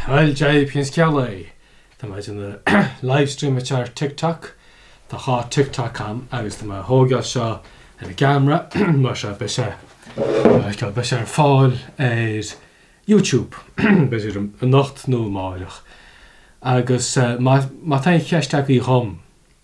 Bhuel, JP an scéalaí. Tá mé ag déanamh livestream ar TikTok. Tá dhá TikTok agam agus tá mé ag tógáil seo ar an gceamara mar seo beidh sé, mar seo beidh sé ar fáil ar YouTube b'fhéidir anocht nó amárach. Agus má tá aon cheist agaibh dhom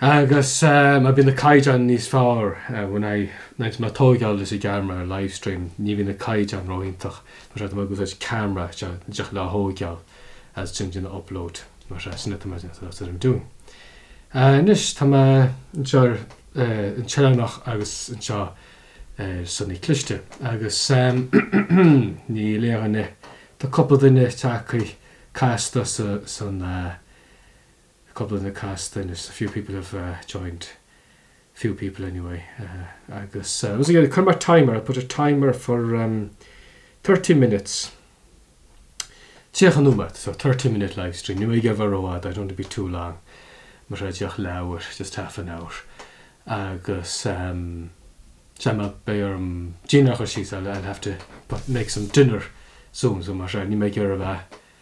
Agus má bhíonn an caighdeán níos fearr, when I, nuair atá mé ag tógáil leis an gceamara ar live stream, ní bhíonn an caighdeán ró-iontach, mar seo tá mé ag úsáid ceamara just le tógáil is ansin déanamh upload, mar seo, sin atá mé that's what I'm doing. Anois tá mé anseo ar an tOileánach agus anseo ar Sionnach Cliste agus níl aon duine, tá cúpla duine teacaigh casta san cúpla duine casta anois a few people have joined few people anyway agus once again chuir mé timer I put a timer for thirty minutes tríocha nóiméad so thirty minute livestream níl mé ag iarraidh a bheith rófhada I don't want to be too long mar sin díreach leathuair just half an hour agus sea beidh orm dinnéar a chur síos I'll have to make some dinner soon so mar sin níl mé ag iarraidh a bheith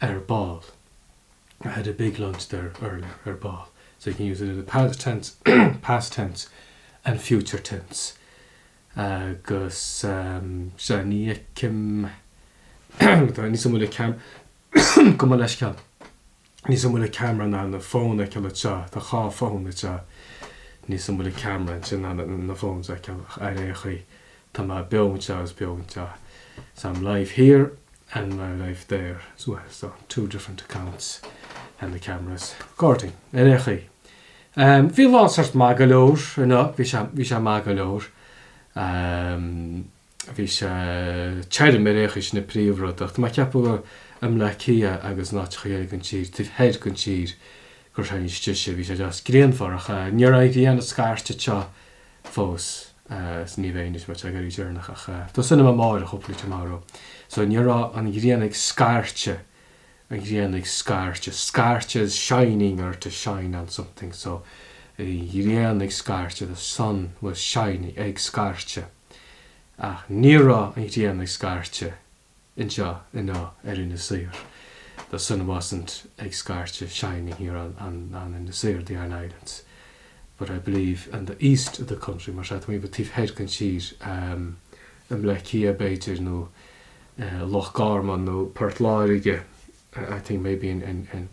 ar ball. I had a big lunch there earlier, ar ball. So you can use it in the past tense, past tense and future tense. Agus sea, ní fheicim, tá, níl a fhios agam an bhfuil an ceam, gabh mo leithscéal, níl a fhios agam an bhfuil an camera in ann an fón a fheiceáil anseo, tá dhá fón anseo, níl a fhios agam an bhfuil an camera ansin in ann na fóins a fheiceáil ach ar aon chaoi, tá mé beo anseo agus beo anseo. So I'm live here and I'm live there as well, so two different accounts and the cameras recording. Ar aon chaoi, bhí an lá sórt maith go leor, you know, bhí sé, bhí sé maith go leor. Bhí sé tirim ar aon chaoi, sin an príomhrud, ach tá mé ag ceapadh i mBleá Cliath agus in áiteachaí den tír, taobh thoir den tír, gur tháinig sé istigh. Bhí sé deas grianmhar ach ní raibh an ghrian ag scairteadh anseo. fós is ní bheidh anois, mar tá sé ag éirí deireanach ach tá súil agam amáireach, hopefully tomorrow. So ní raibh an ghrian ag scairteadh, an ghrian ag scairteadh, scairteadh is shining or to shine on something so an ghrian ag scairteadh, the sun was shining ag scairteadh ach ní raibh an ghrian ag scairteadh. anseo i nó ar Inis Oírr the sun wasn't ag scairteadh shining here on on on Inis Oírr the Aran Islands but I believe in the east of the country mar sea, tá mé taobh thoir den tír, i mBleá Cliath b'fhéidir nó Loch Garman nó Port Láirge I think maybe in in in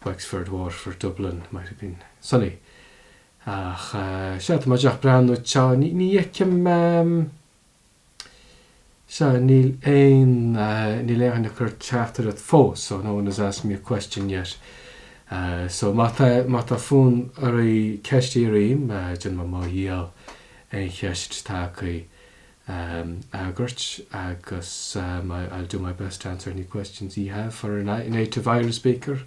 Wexford, Waterford, Dublin might have been sunny ach sea, tá mé ag breathnú anseo, ní fheicim. Sea, níl aon, níl éinne ag cur teachtaireacht fós, so no one has asked me a question yet. So má tá, má tá fonn oraibh ceist a iarraidh orm, déanfaidh mé mo dhícheall aon cheist atá agaibh a fhreagairt agus I'll do my best to answer any questions ye have for a native Irish speaker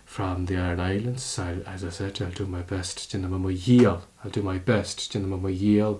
from the Aran Islands. I'll, as I said, I'll do my best, déanfaidh mé mo dhícheall, I'll do my best, déanfaidh mé mo dhícheall,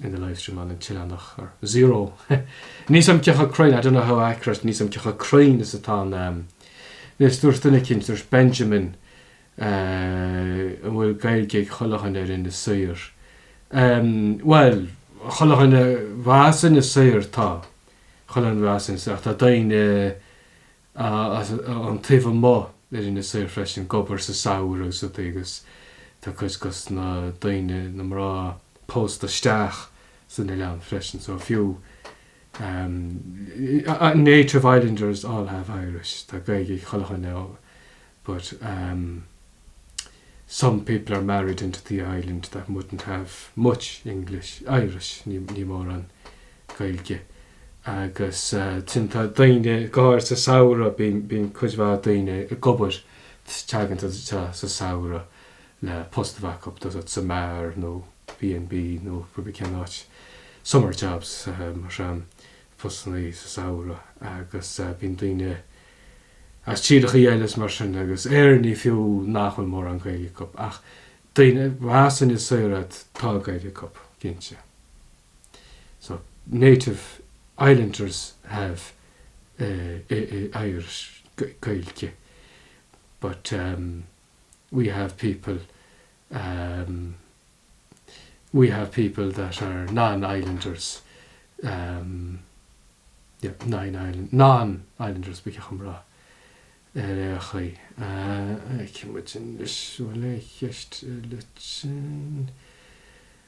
in the live stream on an tOileánach ar zero níl a fhios agam cé chomh cruinn, I don't know how accurate níl a fhios agam cé chomh cruinn is atá an am. Anois dúirt duine eicint, dúirt Benjamin, an bhfuil Gaeilge ag chuile dhuine ar Inis Oírr? Bhuel, chuile dhuine arb as Inis Oírr tá, chuile dhuine arb as Inis Oírr ach tá daoine ón taobh amuigh ar Inis Oírr freisin ag obair sa samhradh sa tigh agus tá cuid dos na daoine, na mná, pósta isteach san oileán freisin so fiú native islanders all have Irish, tá Gaeilge ag chuile dhuine but some people are married into the island that mightn't have much English, Irish, níl mórán Gaeilge. Agus ansin tá daoine, go háirid sa samhradh, bíonn, bíonn cuid mhaith daoine ag obair, teagann siad anseo sa samhradh le post a bheith acu, tá a fhios agat, sa mbeár nó B&B nó pé ar bith cén áit, summer jobs, mar sin, postanna sa samhradh agus bíonn daoine as tíreacha eile is mar sin agus Éireannaigh fiú nach bhfuil mórán Gaeilge acu ach daoine, arb as Inis Oírr iad, tá Gaeilge acu, cinnte. So, native islanders have Irish, Gaeilge, but we have people we have people that are non-islanders yeah non-islanders non-islanders ba cheacht an rá ar a chaoi a ceimic in leis bhfuil a cheist le sin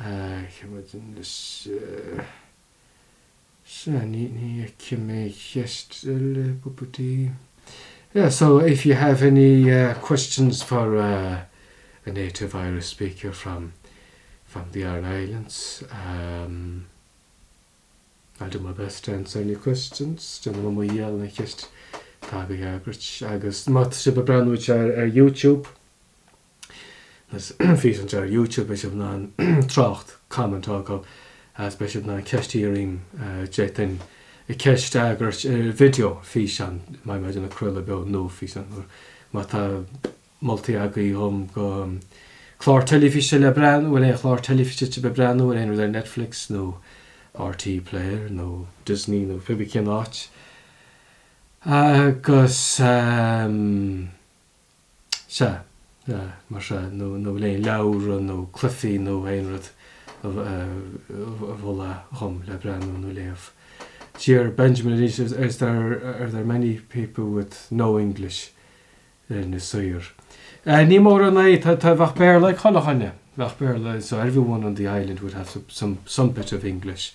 Ceapadán is ea Seanie ní fheicim aon cheist eile bpupatí. Yeah so if you have any questions for a native Irish speaker from from the Aran Islands um I'll do my best to answer any questions. Déanfaidh mé mo dhícheall aon cheist atá agaibh a fhreagairt agus má tá sibh ag breathnú ar YouTube, Is físeán ar YouTube beidh sibh in ann trácht, comment, a fhágáil agus beidh sibh in ann ceist a iarraidh, d'fhéadfainn ceist a fhreagairt ar video, físeán i mo chéad chraoladh beo nó físeán úr. Má tá moltaí agaibh dhom go clár teilifíse le breathnú, bhuel aon chlár teilifíse le breathnú air nó aon rud ar Netflix nó RTÉ Player nó Disney nó pé bí cén áit, agus. sea, mar sea, nó le aon leabhra nó cluifí nó aon rud a mholadh dhom le breathnú nó léamh. D'iarr Benjamin arís Is there, are there many people with no English in Inis Oírr? Níl mórán, no, tá, tá, bheadh Béarla ag 'chaon dhuine, bheadh Béarla so everyone on the island would have some, some bit of English.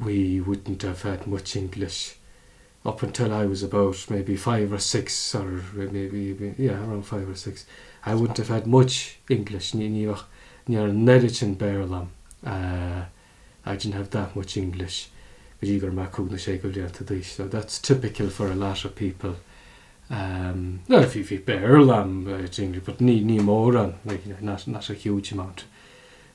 we wouldn't have had much English up until I was about maybe five or six or maybe, yeah, around five or six. I wouldn't have had much English, ní bheadh, níor neirid sin Béarla liom, I didn't have that much English, go dtí go raibh mé cúig nó sé go blianta d'aois. So that's typical for a lot of people. Bhuel, bhí, bhí Béarla a'm, but ní, ní mórán, like, not, not a huge amount.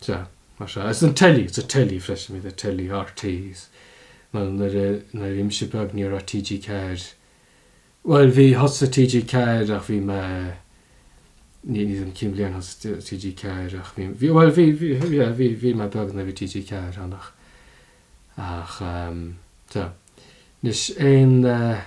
Sea. Mar sea. Sin teilí, sa teilí freisin, mar bhí teilí, RTÉ, is nuair a, nuair a bhí mise beag ní raibh TG4, bhuel bhí, thosaigh TG4 ach bhí mé, ní, níl a fhios a'm cén bhliain a thosaigh TG4 ach bhí, bhí, bhuel bhí, bhí, yeah, bhí, bhí mé beag nuair a bhí TG4 ann ach, ach, sea. Anois aon eh.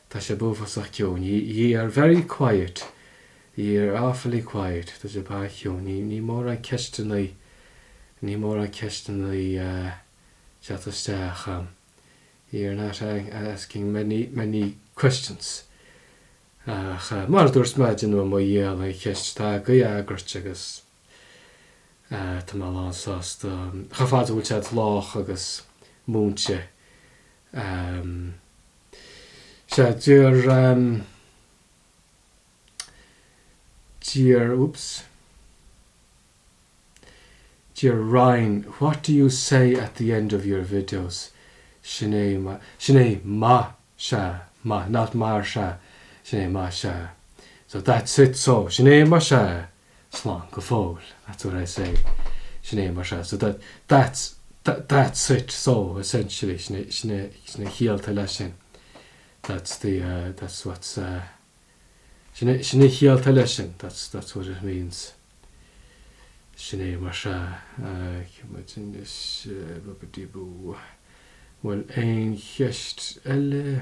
Tá sibh uafásach ciúin. Ye are very quiet. Ye are awfully quiet. Tá sibh an-chiúin. Níl, níl mórán ceisteanna, níl mórán ceisteanna ag teacht isteach ann. Ye are not asking many, many questions. Ach mar a dúirt mé déanfaidh mé mo dhícheall aon cheist atá agaibh a fhreagairt agus tá mé lán sásta. Chomh fada is go bhfuil sé lách agus múinte Um sea, d'iarr um d'iarr oops d'iarr Ryan what do you say at the end of your videos? Sin é maith sin é maith sea maith not mar sea sin é maith sea so that's it so sin é maith sea. slán go fóill, that's what I say, sin é maith sea, so that, that's, that's it, so, essentially, sin é, sin é, sin é a chiallaítear leis sin, that's the, that's what's, sin é, sin é a chiallaítear leis sin, that's, that's what it means, sin é maith sea, cá bhfuil muid anois, bubba-dee-boo, bhuel aon cheist eile?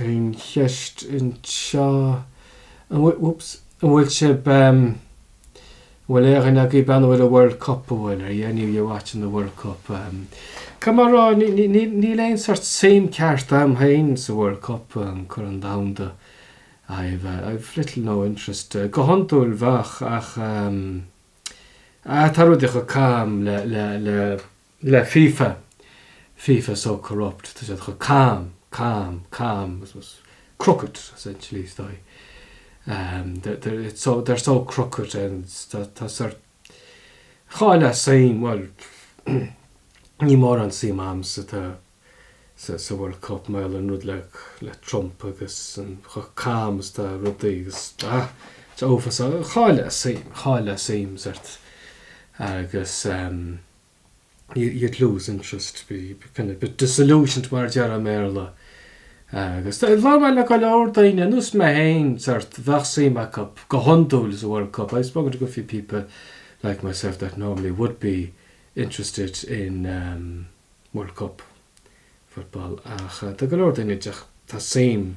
Aon cheist anseo, an bhfuil sibh, an bhfuil aon dhuine agaibh ag breathnú ar an World Cup, an bhfuil, are any of you watching the World Cup? Caithfidh mé a rá, níl aon sórt suim ceart a'm féin sa World Cup, an Corn Domhanda, I've little, no interest, go hiondúil bheadh ach eh tá rudaí chomh cam le, le, le, le FIFA, FIFA is so corrupt, tá siad chomh cam, cam, cam, crooked, essentially, is dóigh, they're, it's so, they're so crooked and tá, tá sórt, chaillfeá suim, bhuel, níl mórán suim a'm sa, tá, sa, sa World Cup mar gheall ar an rud le, le Trump agus an, chomh cam is tá rudaí agus, ah, it's uafásach, chaillfeá suim, chaillfeá suim sórt agus. you'd lose interest, be kind of a bit disillusioned mar a déarfá i mBéarla. Agus tá labhair mé le go leor daoine, ar nós mé féin, sórt, bheadh suim acu go hiondúil sa World Cup, I've spoken to a good few people like myself that normally would be interested in um World Cup football ach tá go leor daoine, tá suim.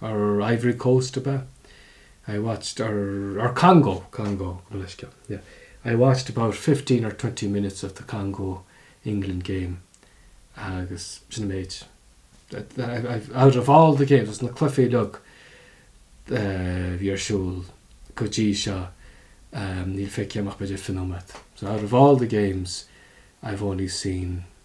or Ivory Coast ab ea? I watched or or Congo Congo gabh mo leithscéal yeah I watched about fifteen or twenty minutes of the Congo England game agus sin an méid I've out of all the games as na cluichí uilig a bhí ar siúl go dtí seo níl feicthe a'm ach b'fhéidir fiche nóiméad so out of all the games I've only seen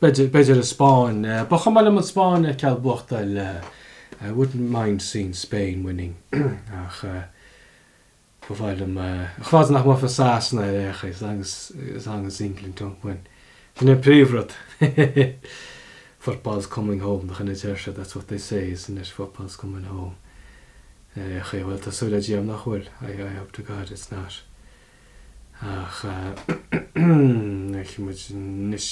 b'fhéidir an Spáinn, ba chuma liom an Spáinn a fheiceáil ag buachtáil, I wouldn't mind seeing Spain winning, ach ba chuma liom a fhad is nach mbuafaidh Sasana ar aon chaoi, as long as, as long as England don't win. Sin an príomhrud. Football's coming home, nach in a deir siad, that's what they say, isn't it, football's coming home. Ar aon chaoi, bhuel, tá súil le Dia a'm nach bhfuil, I hope to God it's not. Ach feicfidh muid anois.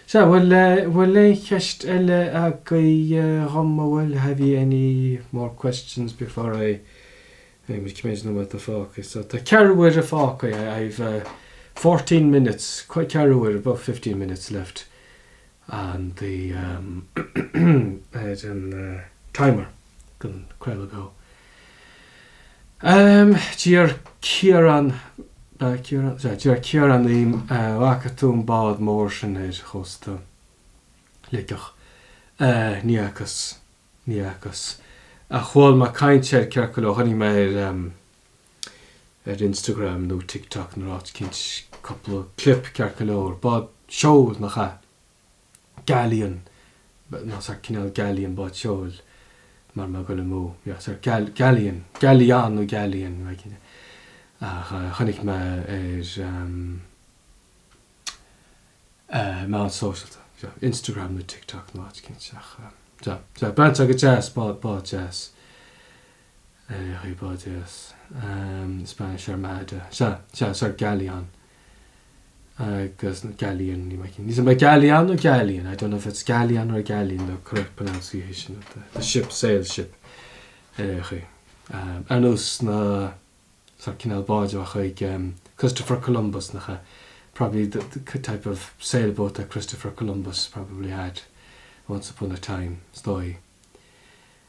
Sea, bhuel, bhfuil aon cheist eile agaibh dhom, a bhfuil, have ye any more questions before I, I cé mhéad atá fágtha. So, tá ceathrú uaire fágtha, I've fourteen minutes, ceathrú uaire, about fifteen minutes left. and the um ar an timer den craoladh beo um D'iarr Ciarán Ba é Ciarán sea d'iarr Ciarán orm a' bhfaca tú an bád mór sin ar chósta Shligeach a Ní fhacas Ní fhacas ach chuala mé caint air ceart go leor chonaic mé ar um ar Instagram nó TikTok nó áit eicínt cúpla clip ceart go leor. Bád seoil, nach ea? Galleon, nach sórt cineál galleon bád seoil mara bhfuil mé ag goil amú. Yeah, sórt gal, galleon, galleon nó galleon, níl mé cinnte. Ach chonaic mé ar ehm, eh, meáin sóisealta, seo, Instagram nó TikTok nó áit eicínt ach ehm, so, so, breathnaíonn sé go deas, bád, bád deas. bád deas, Spanish Armada, sórt Galleon agus, Galleon, ní mhaith, ní mhaith, Galleon nó Galleon, I don't know if it's Galleon or Galleon the correct pronunciation of the, the ship, sail ship, ar aon chaoi. Ar nós na, sórt cineál báid a bheadh chuig Christopher Columbus nach ea? Probably the, the type of sailboat that Christopher Columbus probably had once upon a time, is dóigh.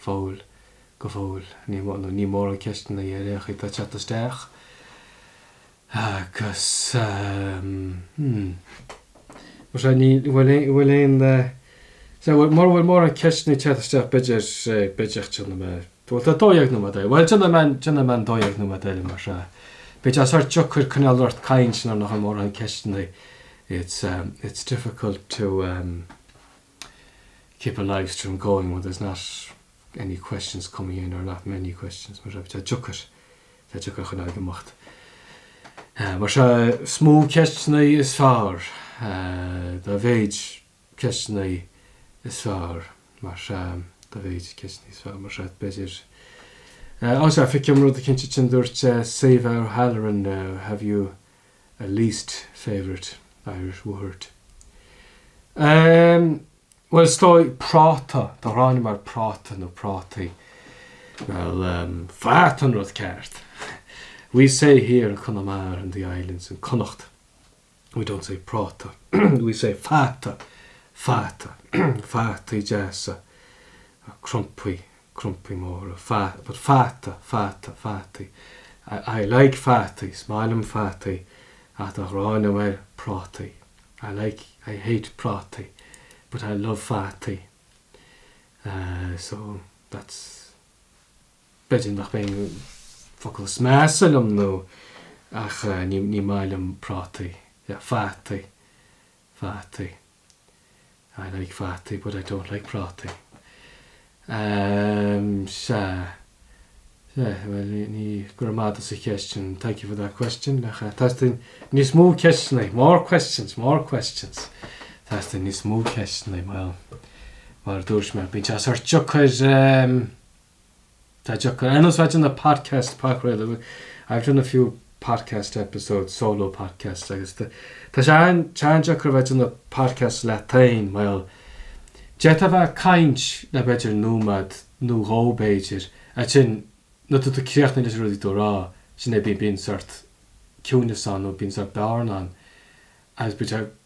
fóill, go fóill, níl mórán, níl mórán ceisteanna tar éis a theacht isteach agus, hmm, mar sin, ní, an bhfuil aon, an bhfuil aon, sea, mura bhfuil mórán ceisteanna ag teacht isteach b'fhéidir, b'fhéidir, déanfaidh mé, bhuel tá dó dhéag nóiméad eile, bhuel déanfaidh mé, déanfaidh mé an dó dhéag nóiméad eile mar sin, b'fhéidir sórt deacair coinneáil ort ag caint nuair nach bhfuil mórán ceisteanna, it's, it's difficult to, keep a live stream going when there's not any questions coming in or not many questions mar tá deacair tá deacair coinneáil ag imeacht mar sin is mó ceisteanna is fearr dá mhéid ceisteanna is fearr mar sin dá mhéid ceisteanna is fearr mar sin b'fhéidir Ó sea feicim rud eicínt ansin dúirt Sadhbh O'Halloran have you a least favourite Irish word. Bhuel, is dóigh, práta, tá an ghráin agam ar práta nó prátaí. Bhuel, fata an rud ceart. We say here in Conamara and the islands in Connacht, we don't say práta, we say fata, fata, fataí deasa, crumpaí. crumpaí móra, fat, but fata, fata, fataí, I, I like fataí, is maith liom fataí, ach tá an ghráin agam ar prátaí, I like, I hate prátaí, but I love fataí, eh, so, that's, b'fhéidir nach b'in é an focal is measa liom nó, ach, eh, ní, ní maith liom prátaí, yeah, fataí, fataí. I like fataí but I don't like prátaí. Umm sea. Sea, bhuel ní, go raibh maith agat as an gceist sin, thank you for that question. Teastaíonn níos mó ceisteanna, more questions, more questions. Teastaíonn níos mó ceisteanna, bhuel, mar a dúirt mé, bíonn sé sórt deacair umm. Tá deacair ar nós a bheith ag déanamh podcast, pod, I've done a few podcast episodes solo podcast agus tá sé an-deacair a bheith ag déanamh podcast leat féin, bhuel, d'fhéadfá a bheith ag caint le b'fhéidir nóiméad nó dhó b'fhéidir, ansin nuair atá tú críochnaithe leis an rud atá tú ag rá, ansin bíonn sórt ciúnas ann nó bíonn sórt bearna ann agus bíonn sé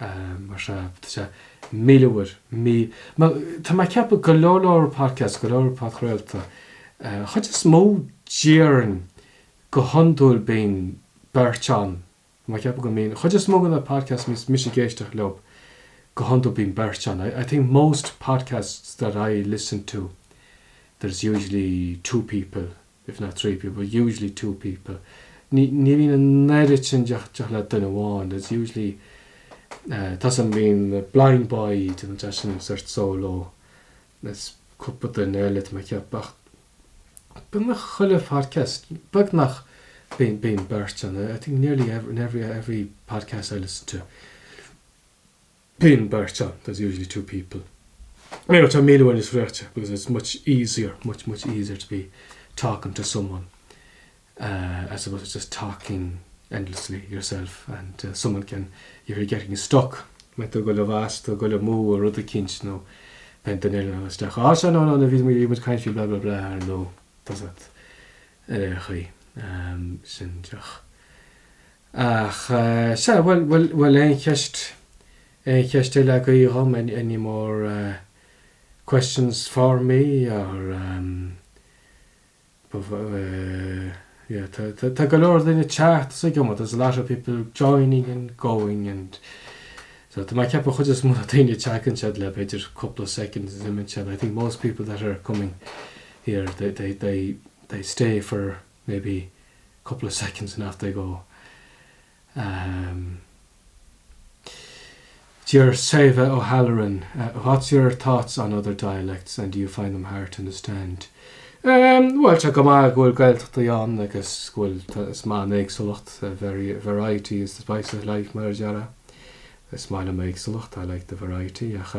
mar sea, tá sé míle uair ní, mar tá mé ag ceapadh go leor, go leor podcasts, go leor podchraolta, an chuid is mó díobh ann go hiondúil bíonn beirt ann, tá mé ag ceapadh go mbíonn, an chuid is mó de na podcasts atá mise ag éisteacht leo, go hiondúil bíonn beirt ann, I think most podcasts that I listen to there's usually two people if not three people, but usually two people ní bhíonn an oiread sin díobh le duine amháin there's usually eh tá a fhios agat, bíonn blind boy déanann seisean sort of solo there's cúpla duine eile tá mé ag ceapadh ach beagnach chuile phodcast beagnach bíonn bíonn beirt ann I think nearly every every every podcast I listen to Bíonn beirt ann, there's usually two people. I know, tá sé míle uair níos éasca, because it's much easier, much, much easier to be talking to someone as opposed to just talking endlessly yourself and someone can, if you're getting stuck, má tá tú ag dul i bhfastó, tú ag dul amú ar rud eicínt nó bíonn duine eile ann isteach, á, sea, no, no, no, bhí muid, bhí muid ag caint faoi blah, blah, blah ar ndóigh, does that, ar aon chaoi, sin deoch. Ach, sea, bhuel, bhuel, bhuel, aon cheist, aon cheist eile agaibh dom, any, any more questions for me or um ba mhaith, eh, yeah, tá, tá, tá go leor daoine ag teacht is ag imeacht, there's a lot of people joining and going and so tá mé ag ceapadh chuid is mó de na daoine ag teacht anseo le b'fhéidir cúpla soicind agus imíonn siad, I think most people that are coming here, they, they, they, they stay for maybe a couple of seconds and off they go Deir Sadhbh O'Halloran, what's your thoughts on other dialects and do you find them hard to understand? Bhuel, tá sé go maith go bhfuil Gaeltachtaí ann agus go bhfuil, is maith liom éagsúlacht, variety is the spice of life, mar a déarfá. Is maith liom éagsúlacht, I like the variety, ach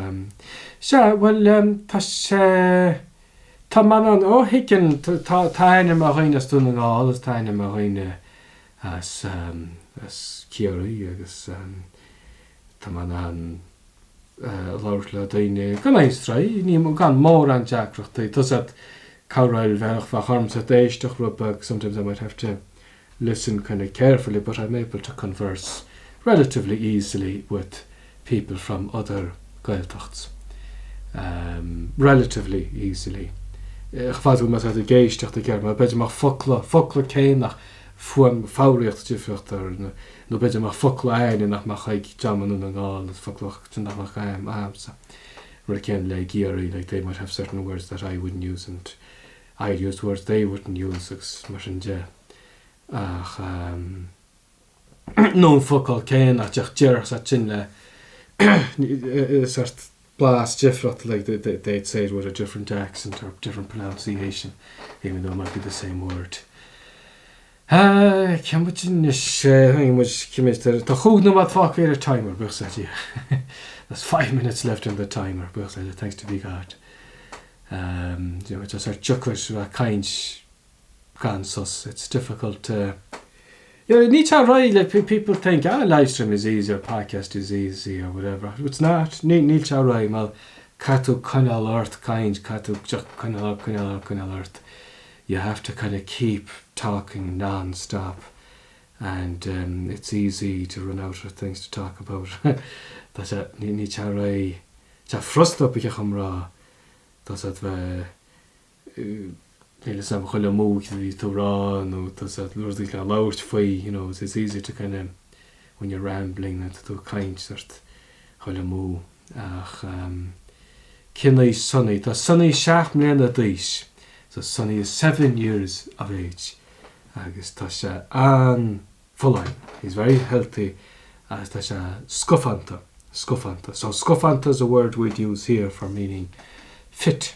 sea, bhuel, tá sé, Tá mé in ann, ó thuigeann, tá aithne agam ar dhaoine as Dún na nGall, is tá aithne agam ar dhaoine as, as Ciarraí agus tá mé in ann labhairt le daoine gan aon stró, ní, gan mórán deacrachtaí. Tá a fhios agat, cabhraíonn, bheadh, bheadh ormsa saghas éisteacht, rud beag, sometimes I might have to. Listen kind of carefully but I'm able to converse relatively easily with people from other Gaeltachts. Um, relatively easily. A fhad is go bhfuil tú ag éisteacht go géar, mar, b'fhéidir go mbeadh focla, focla éicínt nó fuaim foghraíocht difriúil ann, nó b'fhéidir go mbeadh focla áithrid nach mbeadh ag dream Dhún na nGall is focla sin nach mbeadh againn, agamsa. Rud céanna le Ciarraí, like they might have certain words that I wouldn't use and I use the words they wouldn't use agus mar sin de ach nó an focal céanna ach ach déarfadh said sin le sort blas difriocht like they, they, they'd say it with a different accent or different pronunciation even though it might be the same word. Tá ceann muid anois, tháinig muid, cé mhéad atá, tá chúig nóiméad fágtha ar an timer, buíochas le Dia, there's five minutes left on the timer, buíochas le Dia, thanks to be God. Tá sé deacair a bheith ag caint gan sos, it's difficult to, you know, níl sé réidh, like people think, ah livestream is easy or podcast is easy or whatever, it's not, níl sé réidh mar caithfidh tú coinneáil ort ag caint, caithfidh tú coinneáil ort, coinneáil ort. you have to kind of keep talking non-stop and it's easy to run out of things to talk about tá sé níl sé réidh tá sé furasta i gcomhrá tá sé bheith níl a fhios agam goidé a bíos tú a rá nó tá sé rudaí le labhairt faoi you know it's easy to kind of when you're rambling, tá tú ag caint, agus ag dul amú. Ach em. cén aois Sonny? Tá Sonny seacht mbliana d'aois. So Sonny is seven years of age agus tá sé an-fholláin, he's very healthy agus tá sé scafánta, scafánta. So scafánta is a word we'd use here for meaning fit.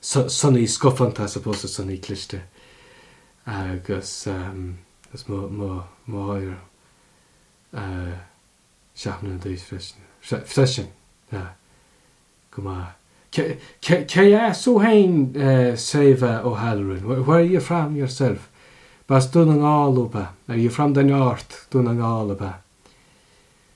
Sonaí Scafánta as opposed to Sonaí Cliste agus is mo mháthair seacht mbliana d'aois freisin. freisin. Sea. Go maith. Cé cé as thú féin Sadhbh O'Halloran? Where where are you from yourself? B'as Dún na nGall thú, ab ea? Are you from the North, Dún na nGall, ab ea?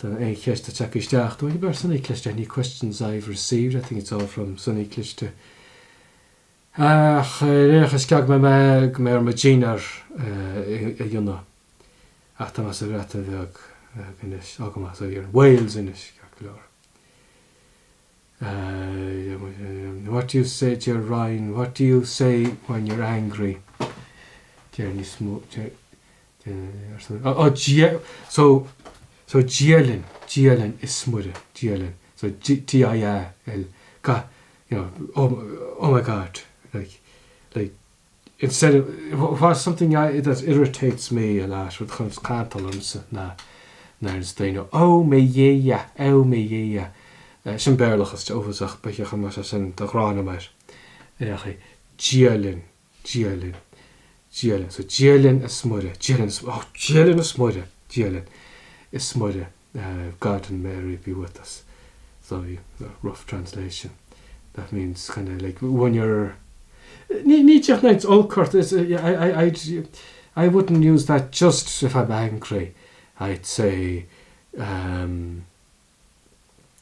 Tá aon cheist ag teacht isteach dúinn ó, bar Sonaí Cliste, any questions I've received, I think it's all from Sonaí Cliste. Ach i ndiaidh seo caithfidh mé, gabhfaidh mé ar mo dhinnéar a dhéanamh. Ach tá mé sa Bhreatain Bheag anois, ó go maith, so you're in, Wales anois, ceart go leor. What do you say, dear Ryan, what do you say when you're angry? Deir níos mó, oh, dia, so, so dialann, dialann is smuire, dialann, so D-I-A-L, ga, you know, oh, oh my God, like, like, instead of, what's something I, that irritates me a lot, rud a chuireann cantal ormsa ná, nuair a deireanns daoine, ó mo Dhia, ó mo Dhia, sin Béarlachas tá sé uafásach, bheadh sé chomh maith agat é sin a rá mar, a rá, Dia linn, Dia linn, Dia linn, so Dia linn is Muire, Dia linn is, oh Dia linn is Muire, Dia linn is Muire. Garden Mary bhí with us, so bhí rough translation that means kind of like when you're ní ní teach neins olc ort is I I I'd I wouldn't use that just if I'm angry I'd say um.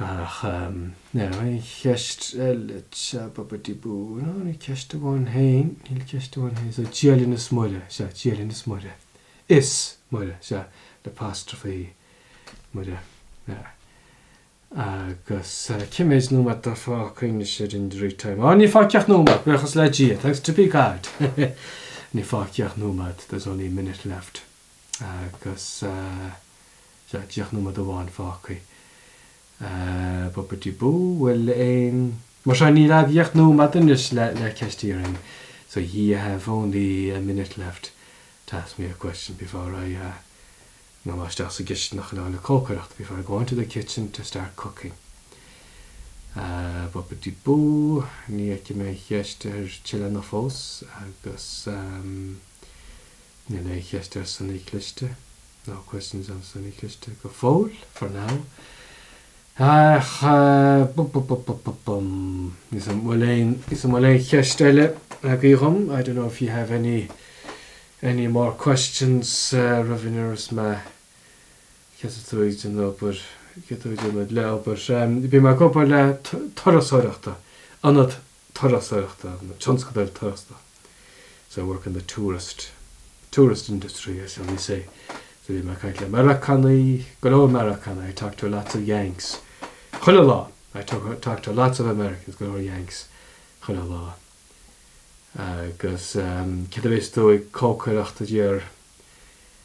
Ach ar aon cheist eile, babidi-bú, no, níl ceist amháin féin, níl ceist amháin féin, so Dia linn is Muire, sea, Dia linn is Muire, is Muire, sea, le apostrophe E, Muire, yeah. Agus cé mhéad nóiméad atá fágtha anois ar an dtimer? Á, níl fágtha ach nóiméad, buíochas le Dia, thanks to be God, níl fágtha ach nóiméad, there's only a minute left. Agus sea, deich nóiméad amháin fágtha. Boopity-boo, bhuel. Mar sin, níl ach deich nóiméad anois le ceist a iarraidh. So ye have only a minute left to ask me a question before I ngabh mé isteach sa gcistin chun a dhul ag cócaireacht, before I go into the kitchen to start cooking. Boopity-boo, ní fheicim aon cheist ar bith eile ann fós agus. Níl aon cheist ar Seanchaí Cliste, No questions on Seanchaí Cliste, go fóill, for now. Ach, bum bum bum bum bum bum. Is an bhfuil aon, is an bhfuil aon cheist eile agaí dhom? I don't know if you have any, any more questions uh, Go raibh míle maith agat. Céard í do chuid oibre, chéad tú ag den obair le obair. Um, bím ag obair le turasóireacht, ionad turasóireachta, tionscadal turasóireachta so I work in the tourist, tourist industry, shall we say so bím ag caint le Meiriceánaigh, go leor Meiriceánaigh I talk to lots of Yanks chuile lá I talk to lots of Americans go leor Yanks chuile lá agus céard a bheas tú ag cócaireacht a deir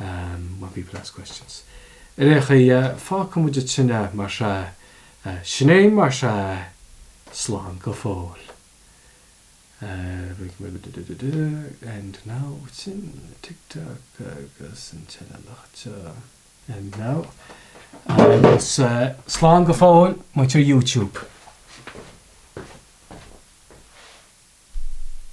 um when people ask questions Ar aon chaoi fágfaidh muid sin é mar sin eh sin é mar sin eh Slán go fóill eh we can maybe duh duh duh duh end now sin TikTok agus an tine loch seo end now agus eh Slán go fóill a mhuintir YouTube.